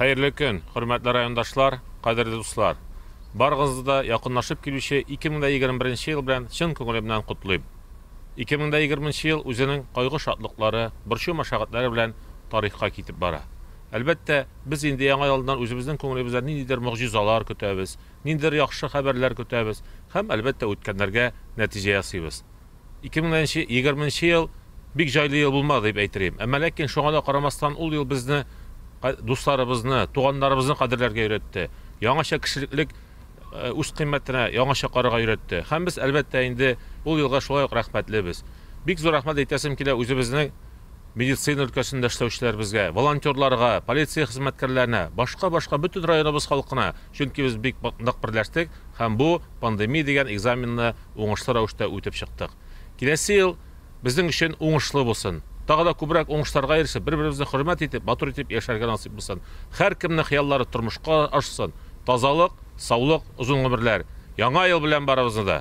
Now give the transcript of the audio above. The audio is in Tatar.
Хәерле көн, хөрмәтле райондашлар, кадерле дуслар. Барыгызны да якынлашып килүче 2021 ел белән чын күңелемнән котлыйм. 2020 ел үзенең кайгы-шатлыклары, борчу-мәшәкатьләре белән тарихка китеп бара. Әлбәттә, без инде Яңа елдан үзебезнең күңелебездән ниндидер могҗизалар көтәбез, ниндидер яхшы хәбәрләр көтәбез һәм, әлбәттә, үткәннәргә нәтиҗә ясыйбыз. 2020 нче ел бик җайлы ел булмады дип әйтелим, әмма ләкин шуңа да карамастан ул ел безне дусларыбызны, туганнарыбызны кадерләргә өйрәтте, яңача кешелеклек үз кыйммәтенә яңача карарга өйрәтте һәм без, әлбәттә, инде ул елга шулай ук рәхмәтлебез. Бик зур рәхмәт әйтәсем килә үзебезнең. Медицина өлкәсендә эшләүчеләребезгә, волонтерларга, полиция хезмәткәрләренә, башка-башка бөтен районыбыз халкына, чөнки без бик нык берләштек һәм бу пандемия дигән экзаменны уңышлы рәвештә үтеп чыктык. Киләсе ел безнең өчен уңышлы булсын. Тагы да күбрәк уңышларга ирешеп, бер-беребезне хөрмәт итеп, матур итеп яшәргә насыйп булсын. Һәркемнең хыяллары тормышка ашсын. Тазалык, саулык, озын гомерләр! Яңа ел белән барыбызны да!